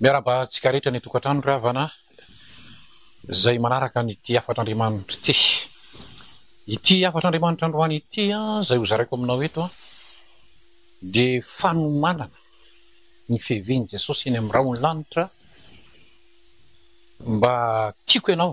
Miarahaba antsika rehetra any an-tokantrano ry havana izay manaraka an'ity hafatr'Andriamanitra ity. Ity hafatr'Andriamanitra androany ity izay hozaraiko aminao eto dia fanomanana ny fiavian'i Jesosy eny amin'ny rahon'ny lanitra mba tiako ianao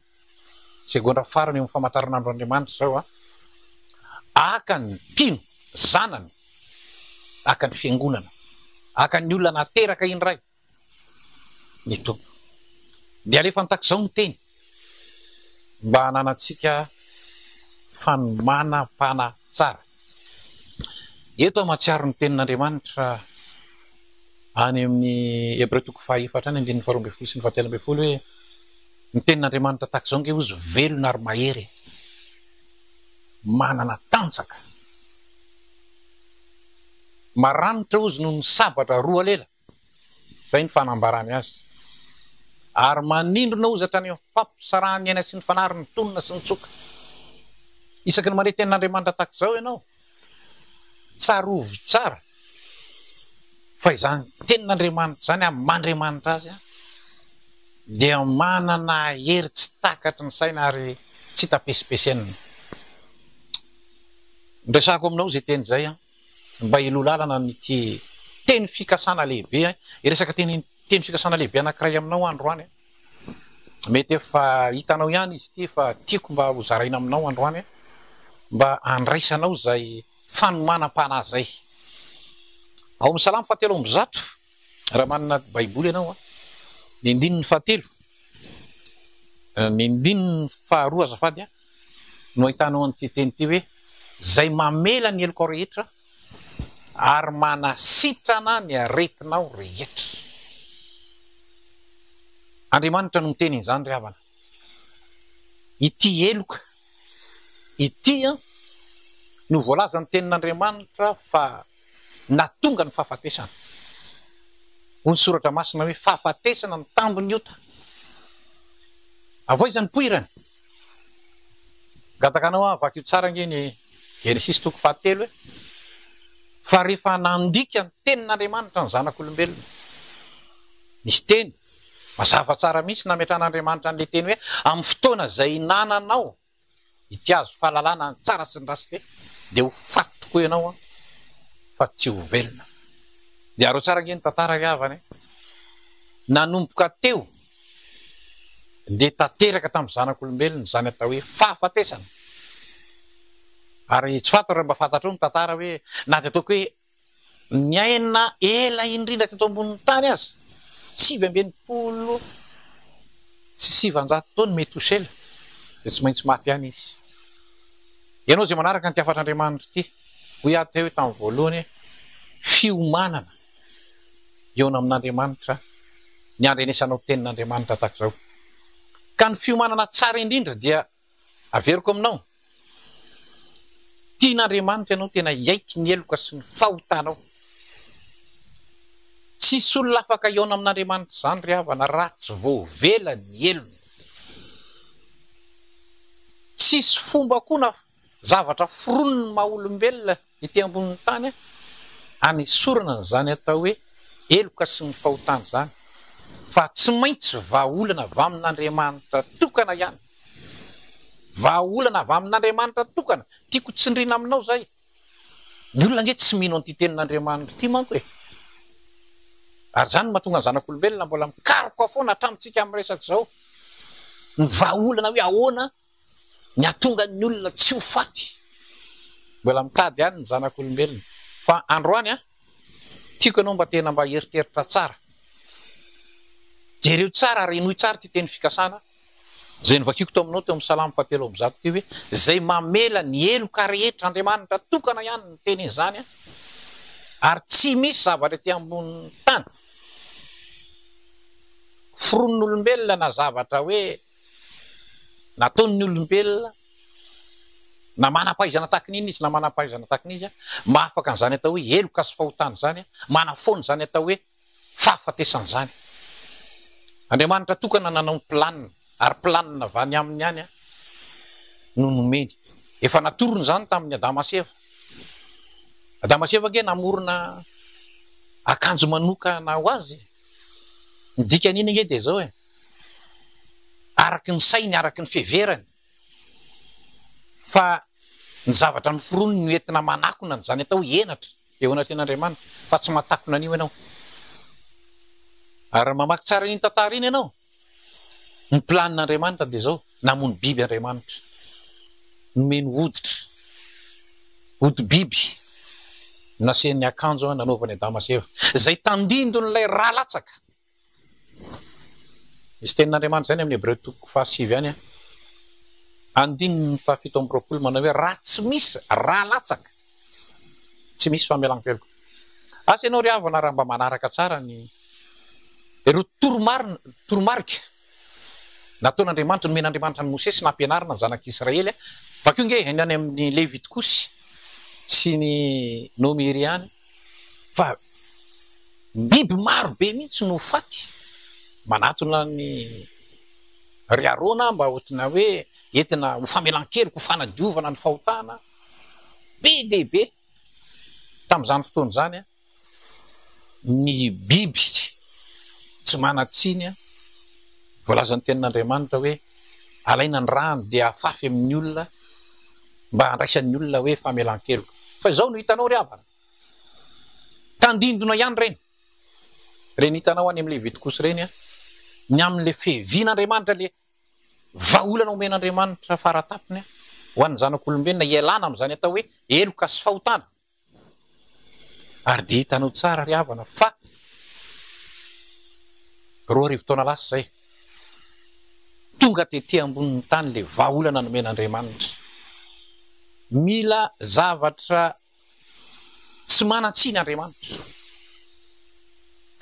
Segondra farany eo amin'ny famantaranandro Andriamanitra izao an. Haka ny mpino zanany, haka ny fiangonana, haka ny olona nateraka indray ny Tompo. Dia alefany tahaka izao ny teny mba hananantsika fanomanam-panahy tsara. Eto aho mahatsiaro ny tenin'Andriamanitra any amin'ny Hebreo toko fahaefatra any andininy faharoa ambin'ny folo sy ny fahatelo ambin'ny folo hoe. Ny tenin'Andriamanitra tahaka izao ange hozy velona ary mahery e! Manana tanjaka. Maranitra hozy noho ny sabatra roa lela, izay ny fanambarany azy. Ary manindrona hozy hatrany amin'ny fampisarahan'ny aina sy ny fanary ny tolona sy ny tsoka. Isaky ny mandre tenin'Andriamanitra tahaka izao ianao, Tsarovy tsara fa izany tenin'Andriamanitra izany amin'ny maha Andriamanitra Azy dia manana hery tsy takatry ny saina ary tsy hita pesipesenina. Miresahako aminao izay teny izay mba hiloa lalana an'ity teny fikasana lehibe, hiresaka teny teny fikasana lehibe anankiray aminao aho androany. Mety efa hitanao ihany izy ity fa tiako mba ho zaraina aminao androany mba handraisanao izay fanomanam-panahy izay. Ao amin'ny Salamo fahatelo amby zato, raha manana Baiboly ianao, ny andininy fahatelo, ny andininy faharoa azafady, no ahitanao an'ity teny ity hoe, Izay mamela ny helokao rehetra. Ary manasitrana ny aretinao rehetra. Andriamanitra no miteny izany ry havana. Ity heloka ity no voalazan'ny tenin'Andriamanitra fa nahatonga ny fahafatesana. Hoy ny soratra masina hoe fahafatesana ny tambin'ny ota. Avoizan'ny poirany. Gataka anao aho, vakio tsara ange ny Genesisy toko fahatelo e! Fa rehefa nandika ny tenin'Andriamanitra ny zanak'olombelona, nisy teny mazava tsara mihitsy nametrahan'Andriamanitra an'ilay teny hoe amin'ny fotoana izay hinananao ity hazo fahalalana ny tsara sy ny ratsy dia dia ho faty tokoa ianao an! fa tsy ho velona. Dia harao tsara ange ny tantara ry havana e! Nanomboka teo dia tanteraka tamin'ny zanak'olombelona izany atao hoe fahafatesana. Ary tsy fantatro raha mba fantatrao ny tantara hoe na dia ataoko hoe niaina ela indrindra teto ambonin'ny tany aza, sivy amby enimpolo sy sivanjato taona i Metosela, dia tsy maintsy maty ihany izy. Ianao izay manaraka ity hafatr'Andriamanitra ity, hoy aho teo tamin'ny voalohany hoe fiomanana. hihaona amin'Andriamanitra ny handrenesana ho tenin'Andriamanitra tahaka izao. Ka ny fiomanana tsara indrindra dia averiko aminao, tian'Andriamanitra ianao tena hiaiky ny heloka sy ny fahotanao. Tsy hisy olona afaka hihaona amin'Andriamanitra izany ry havana raha tsy voavela ny helony. Tsy hisy fomba koa na zavatra foronon'ny maha olombelona Ety ambonin'ny tany anesorana an'izany atao hoe heloka sy ny fahotana izany, fa tsy maintsy vahaolana avy amin'Andriamanitra tokana ihany. Vahaolana avy amin'Andriamanitra tokana. Tiako tsindriana aminao izay. Ny olona ange tsy mino an'ity tenin'Andriamanitra ity manko e! Ary izany no mahatonga ny zanak'olombelona mbola mikaroka foana hatramintsika amin'ny resaka izao. Ny vahaolana hoe ahoana? Ny hahatonga ny olona tsy ho faty. Mbola mitady ihany ny zanak'olombelona. Fa androany an, tiako ianao mba tena mba hieritreritra tsara. Jereo tsara ary henoy tsara ity teny fikasana izay novakiako tao aminao teo amin'ny Salamo fahatelo amby zato teo hoe, Izay mamela ny heloka rehetra Andriamanitra tokana ihany no miteny izany an, ary tsy misy zavatra ety ambonin'ny tany foronin'olombelona na zavatra hoe. Nataon'ny olombelona na manam-pahaizana tahaka ny inona izy na manam-pahaizana tahaka ny iza, mba afaka an'izany atao hoe heloka sy fahotana izany, manafoana izany atao hoe fahafatesana izany. Andriamanitra tokana nanao ny planina, ary planina avy any Aminy ihany no nomeny. Efa natorony izany tamin'i Adama sy Eva. Adama sy Eva ange namorona akanjo manokana ho azy e! Ny dikan'iny ange dia izao e! araka ny sainy, araka ny fiheverany fa ny zavatra noforoniny no entina manakona an'izany atao hoe henatra eo anatrehan'Andriamanitra fa tsy mahatakona an'io ianao. Ary raha mamaky tsara an'iny tantara iny ianao, ny planin'Andriamanitra dia izao, namono biby Andriamanitra, nomeny hoditra, hodi-biby, nasehiny ny akanjo nanaovany Adama sy Eva, izay tandindon'ilay rà latsaka. Misy tenin'Andriamanitra izay any amin'ny Hebreo toko fahasivy any, andininy fahafito amby roapolo manao hoe, Raha tsy misy ra latsaka, tsy misy famelan-keloka. Asa ianao ry havana raha mba manaraka tsara ny ireo toromarina, toromarika. Nataon'Andriamanitra, nomen'Andriamanitra an'i Mosesy nampianarina ny zanak'Israely, vakio nge haino any amin'ny Levita kosy sy ny Nomiri any fa biby maro be mihitsy no faty, manatona an'i ry Arona mba hotina hoe entina ho famelan-keloka, ho fanadiovana ny fahotana, be dia be tamin'izany fotoana izany an! Ny biby tsy manan-tsiny, voalazan'ny Tenin'Andriamanitra hoe alaina ny rany dia afafy amin'ny olona mba handraisan'ny olona hoe famelan-keloka. Fa izao no hitanao ry havana, tandindona ihany ireny, ireny hitanao any amin'ny Levitikosy ireny, ny amin'ilay fiavian'Andriamanitra, ilay vahaolana omen'Andriamanitra fara tampony ho an'ny zanak'olombelona hialana amin'izany atao hoe heloka sy fahotana. Ary dia hitanao tsara ry havana fa roa arivo taona lasa izay, tonga tety ambonin'ny tany ilay vahaolana nomen'Andriamanitra. Mila zavatra tsy manan-tsiny Andriamanitra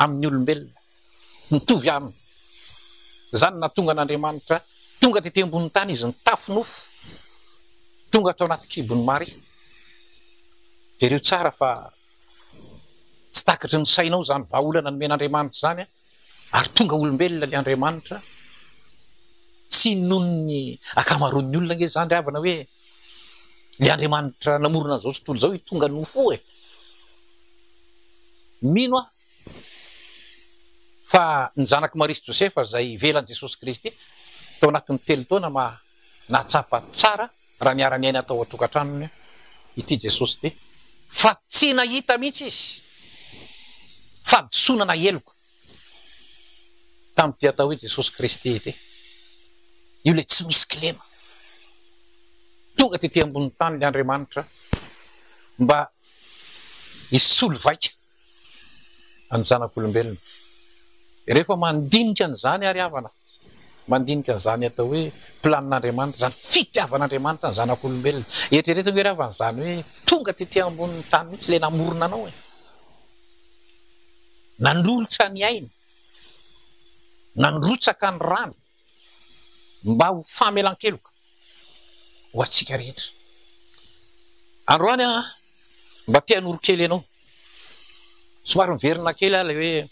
amin'ny olombelona. Mitovy aminy izany ny nahatonga an'Andriamanitra tonga tety ambonin'ny tany izy nitafy nofo, tonga tao anaty kibon'i Maria. Jereo tsara fa tsy takatry ny sainao izany vahaolana nomen'Andriamanitra izany ary tonga olombelona ilay Andriamanitra. Tsy inoan'ny ankamaroan'ny olona ange izany ry havana hoe ilay Andriamanitra namorona an'izao tontolo izao io tonga nofo io e! Mino aho. Fa ny zanak'i Maria sy Josefa izay ivelan'i Jesosy Kristy tao anatin'ny telo taona ma nahatsapa tsara raha niara-niaina tao an-tokantranony ity Jesosy ity fa tsy nahita mihitsy izy fahadisoana na heloka tamin'ity atao hoe Jesosy Kristy ity. Io ilay tsy misy kilema. Tonga tety ambonin'ny tany ilay Andriamanitra mba hisolo vaika. ny zanak'olombelona. Rehefa mandinika an'izany àry havana, mandinika an'izany atao hoe planin'Andriamanitra, izany fitiavan'Andriamanitra ny zanak'olombelona. Eritrereto ve ry havana izany hoe tonga tetỳ ambonin'ny tany mihitsy ilay namorona anao e? Nanolotra ny ainy, nandrotsaka ny rany. mba ho famelan-keloka ho antsika rehetra. Androany aho mba te hanoro kely anao. Somary miverina kely aho ilay hoe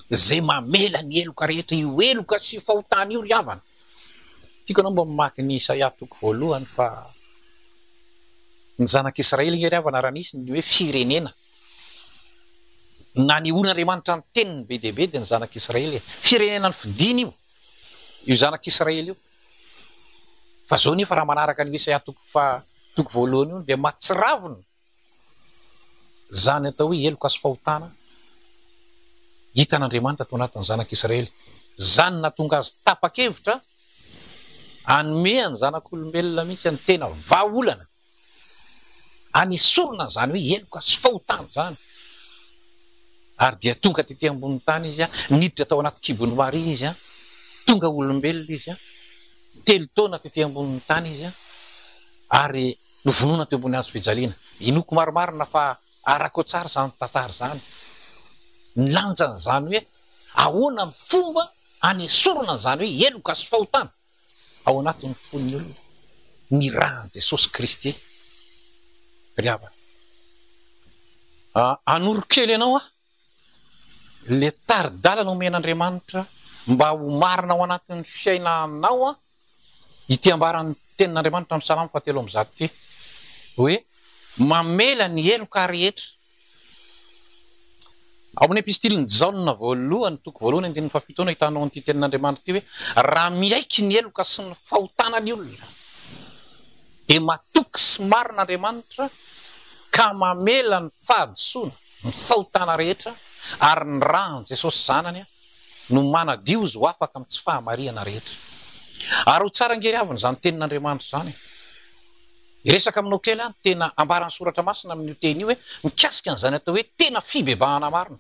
izay mamela ny heloka rehetra, io heloka sy io fahotana io ry havana. Tiako ianao mba mamaky ny Isaia toko voalohany fa ny zanak'Israely nge ry havana raha nisy ny hoe firenena. Nanehoan'Andriamanitra ny teniny be dia be dia ny zanak'Israely e. Firenena nofidiny io, io zanak'Israely io. Fa izao nefa raha manaraka an'io Isaia toko faha toko voalohany io dia mahatsiravina izany atao hoe heloka sy fahotana hitan'Andriamanitra tao anatin'ny zanak'Israely. Izany nahatonga azy tapa-kevitra Hanome an'ny zanak'olombelona mihitsy any tena vahaolana any esorina an'izany hoe heloka sy fahotana izany. Ary dia tonga tety ambonin'ny tany izy an, niditra tao anaty kibon'i Maria izy an, tonga olombelona izy an, telo taona tety ambonin'ny tany izy an, ary novonoina teo ambony hazo fijaliana. Inoako marimarina fa. Arako tsara izany tantara izany, ny lanjany izany hoe ahoana ny fomba anesorana an'izany hoe heloka sy fahotana ao anatin'ny fon'ny olona ny ran'i Jesosy Kristy. Ry havana, hanoro kely anao aho, ilay tari-dalana omen'Andriamanitra mba ho marina ao anatin'ny fiainanao Ity ambaran'ny Tenin'Andriamanitra amin'ny Salamo fahatelo amby zato ity hoe, Mamela ny heloka rehetra. Ao amin'ny Epistilin'i Jaona voalohany toko voalohany andininy fahafito no ahitanao an'ity Tenin'Andriamanitra ity hoe, Raha miaiky ny heloka sy ny fahotana ny olona, dia matoky sy marina Andriamanitra ka mamela ny fahadisoana, ny fahotana rehetra, ary ny ran'i Jesosy Zanany, no manadio izy ho afaka amin'ny tsy fahamarihana rehetra. Ary ho tsara ange ry havana izany tenin'Andriamanitra izany e! Hiresaka aminao kely aho ny tena ambaran'ny Soratra Masina amin'io teny io hoe mikasika an'izany atao hoe tena fibebahana marina.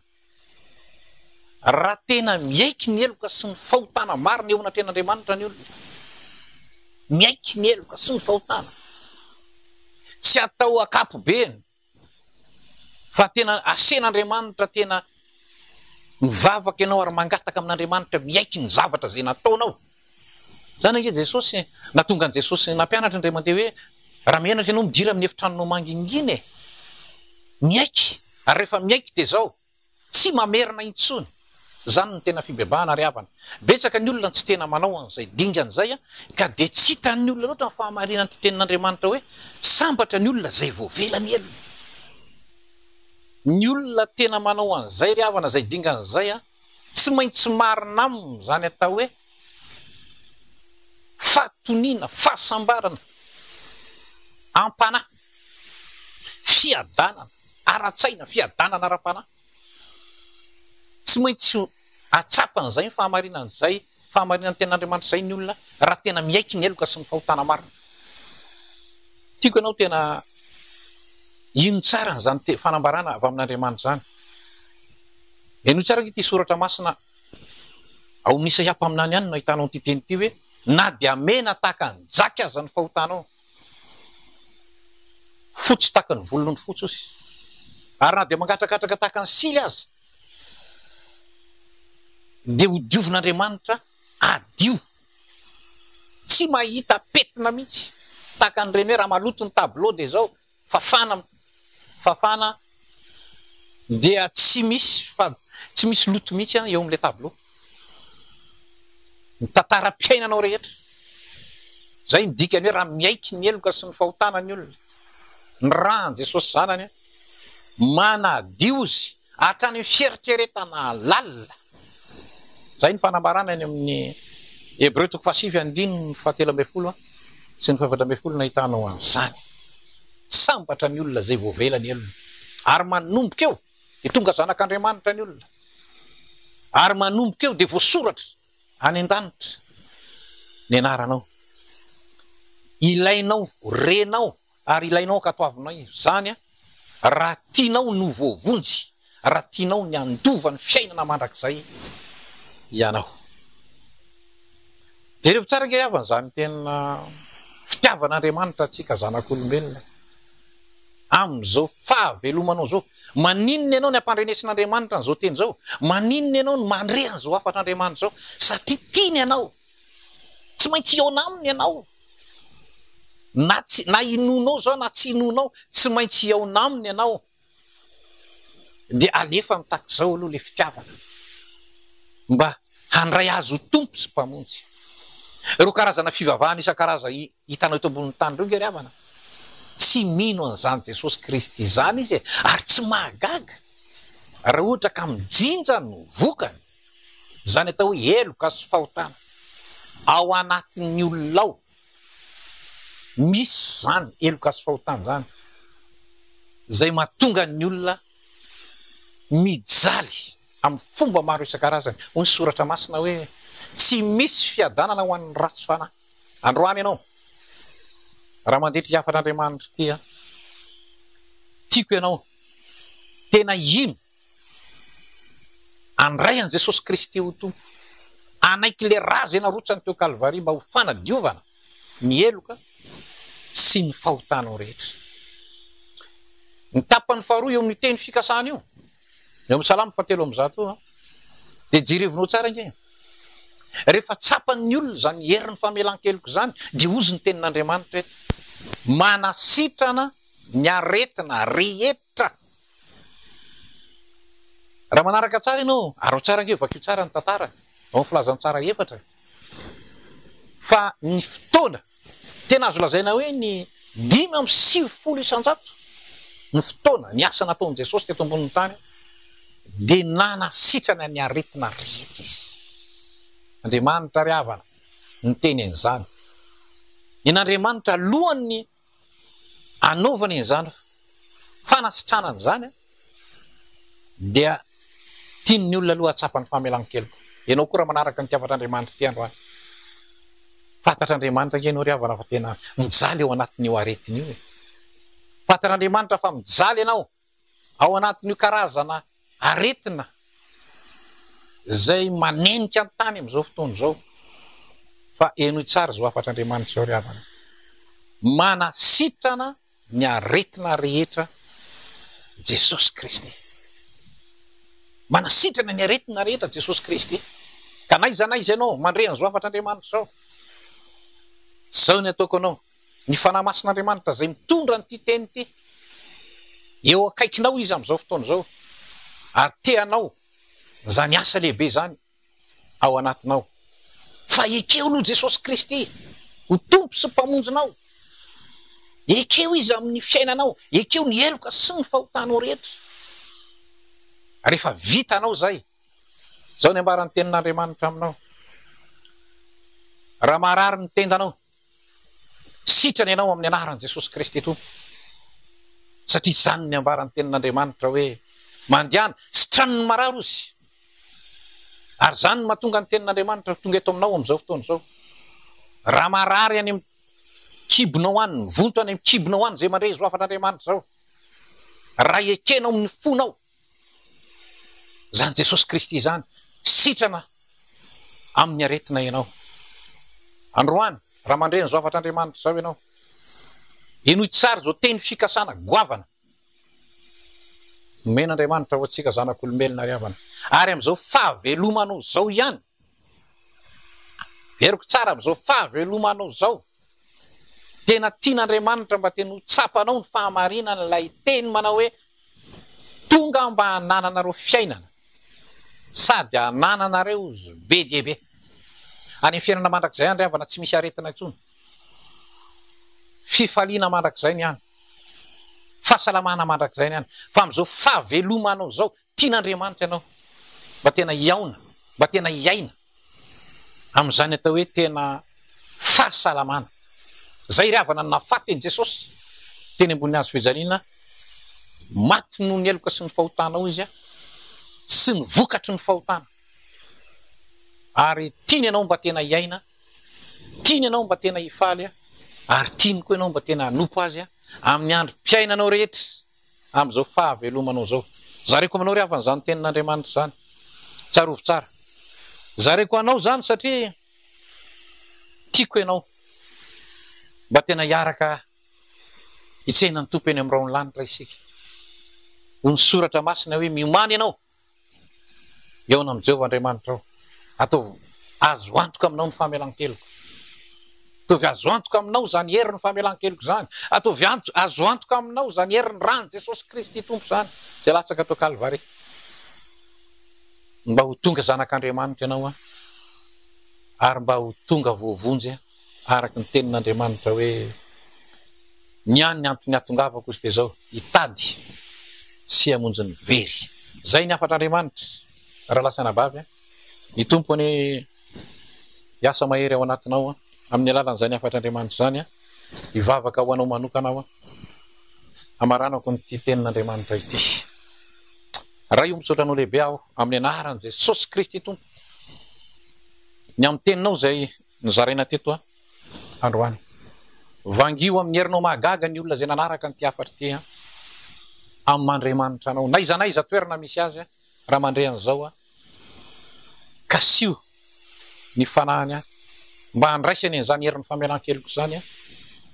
Raha tena miaiky ny heloka sy ny fahotana marina eo anatrehan'Andriamanitra ny olona, miaiky ny heloka sy ny fahotana, tsy atao ankapobeny, Fa tena asen'Andriamanitra tena mivavaka ianao ary mangataka amin'Andriamanitra miaiky ny zavatra izay nataonao. Izany ange Jesosy, nahatonga an'i Jesosy nampianatra indray mandeha hoe, raha mianatra ianao midira amin'ny efitranonao mangingina e! Miaiky, ary rehefa miaiky dia izao. Tsy mamerina intsony. Zany no tena fibebahana ary havana. Betsaka ny olona tsy tena manao an'izay dingana izay ka dia tsy hitan'ny olona loatra ny fahamarinan'ity tenin'Andriamanitra hoe, Sambatra ny olona izay voavela ny helony. Ny olona tena manao an'izay ry havana izay dingana izay, tsy maintsy marina aminy izany atao hoe, Fahatoniana, fahasambarana, am-panahy, fiadanana ara-tsaina, fiadanana ara-panahy. Tsy maintsy hahatsapany izay ny fahamarinana izay, fahamarinan'ny tenin'Andriamanitra izay ny olona raha tena miaiky ny heloka sy ny fahotana marina. Tiako ianao tena hino tsara an'izany fanambarana avy amin'Andriamanitra izany. Henoy tsara ve ity soratra masina Ao amin'ny Isaia mpaminany ihany no ahitanao an'ity teny ity hoe, Na dia mena tahaka ny jaky aza ny fahotanao, fotsy tahaka ny volon'ondry fotsy osy, ary na dia mangatrakatraka tahaka ny sily aza, dia hodiovin'Andriamanitra hadio. Tsy mahita pentina mihitsy, tahaka an'ireny hoe raha maloto ny tableau dia izao, Fafana fafana dia tsy misy fa tsy misy loto mihitsy an eo amin'ilay tableau. Ny tantaram-piainanao rehetra. Izay no dikany hoe raha miaiky ny heloka sy ny fahotana ny olona. Ny ràn'i Jesosy Zanany manadio zy Hatrany amin'ny fieritreretana lalina. Izay ny fanambarana eny amin'ny Hebreo toko fahasivy andininy fahatelo ambin'ny folo sy ny fahefatra ambin'ny folo no ahitanao an'izany. Sambatra ny olona izay voavela ny helony, ary manomboka eo dia tonga zanak'Andriamanitra ny olona, ary manomboka eo dia voasoratra any an-danitra ny anaranao, ilainao, renao. ary ilainao ankatoavinao izany raha tianao ny ho voavonjy, raha tianao ny handova ny fiainana mandrakizay ianao. Jerevo tsara ange havana izany tena fitiavan'Andriamanitra antsika zanak'olombelona e! Amin'izao fahavelomanao izao, maninona ianao ny hampandrenesin'Andriamanitra an'izao teny izao? Maninona ianao ny mandre an'izao hafatr'Andriamanitra izao? Satria tiany ianao. Tsy maintsy hihaona aminy ianao. Na tsy, na hinoanao izao na tsy hinoanao, tsy maintsy hihaona aminy ianao. Dia alefany tahaka izao aloha ilay fitiavana, mba handray azy ho Tompo sy Mpamonjy. Ireo karazana fivavahana isan-karazany Hitanao eto ambonin'ny tany ireo ange ry havana a! Tsy mino an'izany Jesosy Kristy izany izy e! Ary tsy mahagaga raha ohatra ka mijinja no vokany! Izany atao hoe heloka sy fahotana ao anatin'ny olona ao. Misy izany heloka sy fahotana izany izay mahatonga ny olona mijaly amin'ny fomba maro isan-karazany. Hoy ny Soratra Masina hoe, Tsy misy fiadanana ho an'ny ratsy fanahy. Androany ianao, raha mandeha ity hafan'Andriamanitra ity an, tiako ianao tena hino, handray an'i Jesosy Kristy ho Tompo, hanaiky ilay ra izay narotsany teo Kalvary mba ho fanadiovana ny heloka sy ny fahotanao rehetra. Ny tapany faharoa eo amin'io teny fikasana io Eo amin'ny Salamo fahatelo amby zato io, dia jerevinao tsara ange e! Rehefa tsapan'ny olona izany herin'ny famelan-keloka izany, dia hozy ny tenin'Andriamanitra eto, Manasitrana ny aretina rehetra. Raha manaraka tsara ianao, araho tsara ange, vakio tsara ny tantara ao amin'ny Filazantsara efatra e! Fa ny fotoana tena azo lazaina hoe ny dimy amby sivifolo isan-jato ny fotoana, ny asa nataon'i Jesosy teto ambonin'ny tany, dia nanasitrana ny aretina rehetra Izy. Andriamanitra ry havana no niteny an'izany. Nen'Andriamanitra alohan'ny Anovana izany fanasitranana izany dia tian'ny olona aloha hahatsapa ny famelan-keloka. Ianao koa raha manaraka ny tiafatr'Andriamanitra ity androany, fantatr'Andriamanitra ange ianao ry havana fa tena mijaly ao anatin'io aretina io e! Fantatr'Andriamanitra fa mijaly ianao. Ao anatin'io karazana aretina izay manenika ny tany amin'izao fotoana izao, fa henoy tsara izao hafatr'Andriamanitra izao ry havana, manasitrana ny aretina rehetra Jesosy Kristy. Manasitrana ny aretina rehetra Jesosy Kristy. Ka na iza na iza ianao mandre an'izao hafatr'Andriamanitra izao, izao ny ataoko anao. Ny Fanahy Masin'Andriamanitra izay mitondra an'ity teny ity eo akaikinao Izy amin'izao fotoana izao ary te hanao izany asa lehibe izany ao anatinao. Fa ekeo aloha Jesosy Kristy ho Tompo sy Mpamonjinao. Ekeo Izy amin'ny fiainanao. Ekeo ny heloka sy ny fahotanao rehetra. Rehefa vitanao izay, izao ny ambaran'ny Tenin'Andriamanitra aminao, Raha maharary ny tendanao, Sitrana ianao amin'ny anaran'i Jesosy Kristy Tompo satria izany ny ambaran'ny tenin'Andriamanitra hoe mandehana sitraniny marary ozy ary izany no mahatonga ny tenin'Andriamanitra ho tonga eto aminao amin'izao fotoana izao raha marary any amin'ny kibonao any mivonto any amin'ny kibonao any izay mandre izao hafan'Andriamanitra izao raha ekenao amin'ny fonao Izany Jesosy Kristy izany sitrana amin'ny aretina ianao. Androany, raha mandre ny zavatra Andriamanitra izao ianao, henoy tsara izao teny fikasana goavana nomen'Andriamanitra ho antsika zanak'olombelona ry havana, ary amin'izao fahavelomana izao ihany Heroky tsara amin'izao fahavelomanao izao. Tena tian'Andriamanitra mba tena ho tsapanao ny fahamarinana ilay teny manao hoe tonga aho mba hanananareo fiainana sady hanananareo izy be dia be. Any amin'ny fiainana mandrakizay any ry havana tsy misy aretina intsony. Fifaliana mandrakizay ny any. Fahasalamana mandrakizay ny any. Fa amin'izao fahavelomanao izao Tian'Andriamanitra ianao mba tena hihaona, mba tena hiaina amin'izany atao hoe tena fahasalamana. Izay ry havana no nahafaty an'i Jesosy teny ambony hazo fijaliana, maty noho ny heloka sy ny fahotanao izy sy ny vokatry ny fahotana. Ary tiany ianao mba tena hiaina, tiany ianao mba tena hifaly ary tiany koa ianao mba tena hanompo azy amin'ny androm-piainanao rehetra. amin'izao fahavelomanao izao. Zareko aminao ry havana izany tenin'Andriamanitra izany. Tsarovy tsara. Zareko anao izany satria tiako ianao. Mba tena hiaraka hitsena ny Tompo eny amin'ny rahon'ny lanitra isika. Hoy ny soratra masina hoe miomany ianao. Hihaona amin'i Jehovah Andriamanitrao. Ataovy azo antoka aminao ny famelan-keloko. Ataovy azo antoka aminao izany herin'ny famelan-keloko izany. Ataovy azo antoka aminao izany herin'ny ran'i Jesosy Kristy Tompo izany, izay latsaka tao Kalvary. Mba ho tonga zanak'Andriamanitra ianao, ary mba ho tonga voavonjy. Araka ny tenin'Andriamanitra hoe, Ny ahy ny antony ahatongavako izy dia izao, hitady sy hamonjy ny very. Izay ny hafatr'Andriamanitra, rahalahy sy anabavy an! Ny Tompo anie hiasa mahery ao anatinao an! Amin'ny alalan'izany hafatr'Andriamanitra izany an, hivavaka ho anao manokana aho an! Hamaranako an'ity tenin'Andriamanitra ity. Ray o, misaotra anao lehibe aho amin'ny anaran'i Jesosy Kristy Tompo, ny amin'ny teninao izay Nozaraina teto androany. Vangio amin'ny herinao mahagaga ny olona izay nanaraka an'ity hafatra ity an! Amin'Andriamanitra anao, n'aiza n'aiza toerana misy azy, raha mandre an'izao an! Kasiho ny fanahiny an! Mba handraisany an'izany herin'ny famelan-keloka izany an!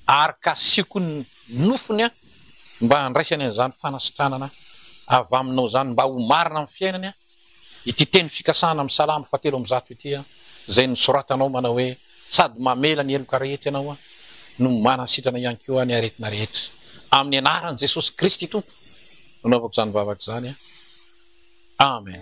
Ary kasiho koa ny nofony an! Mba handraisany an'izany fanasitranana avy aminao izany, mba ho marina amin'ny fiainany an! Ity teny fikasana amin'ny Salamo fahatelo amby zato ity, izay nosoratanao manao hoe, Sady mamela ny heloka rehetra Ianao, no manasitrana ihany koa ny aretina rehetra. Amin'ny anaran'i Jesosy Kristy Tompo no anaovako izany vavaka izany. Amen.